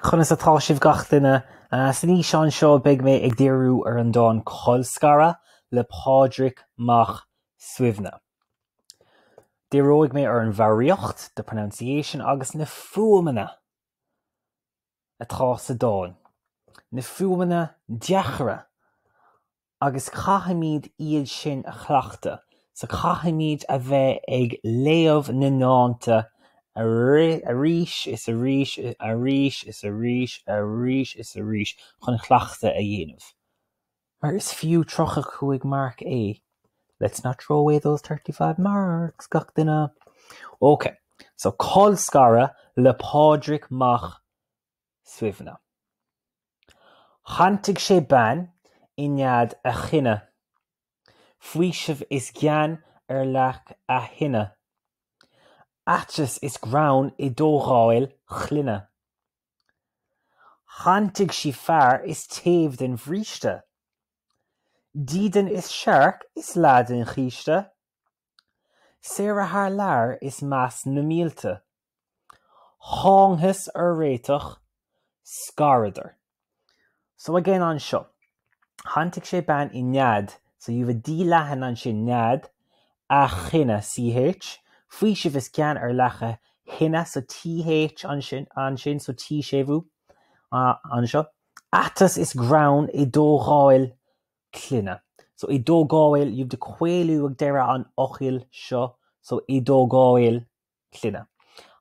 Conas atá sibh gach duine? San fhíseán seo beidh mé ag díriú ar an dán 'Colscaradh' le Pádraig Mac Suibhne. Díreoidh mé ar an bhfoghraíocht, the pronunciation, agus na fuaimeanna atá sa dán, na fuaimeanna deacra agus caithfimid iad sin a chleachtadh so caithfimid a bheith ag léamh na ndánta arís is arís arís is arís arís is arís chun cleachtadh a dhéanamh mar is fiú tríocha cúig marc é let's not throw away those thirty five marks gach duine ok so colscaradh le Pádraig Mac Suibhne. Shantaigh sé bean i nead a chine, faoiseamh is gean ar leac a thine, aiteas is greann i dtógáil chlainne. Shantaigh sí fear is taobh den bhríste, dídean is searc is leath den chíste. Saoire thar lear is meas na mílte. Thángthas ar réiteach scaradar. So again anseo, shantaigh sé bean i nead, so you have a d leathan ansin, nead, a chine, ch, faoiseamh is gean ar leac a thine, so th ansin, ansin, so t-séimhiú anseo. Aiteas is greann i dtógáil clainne. So i dtógáil you've the caolú ag deireadh an fhocail seo so i dtógáil clainne.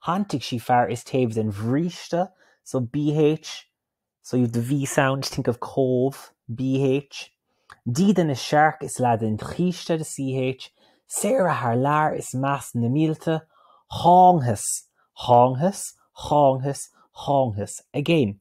Shantaigh sí fear is taobh den bhríste so bh so you've the V sound think of comh bh dídean is searc is leath den chíste the CH saoire thar lear is meas na mílte thángthas thángthas thángthas thángthas Again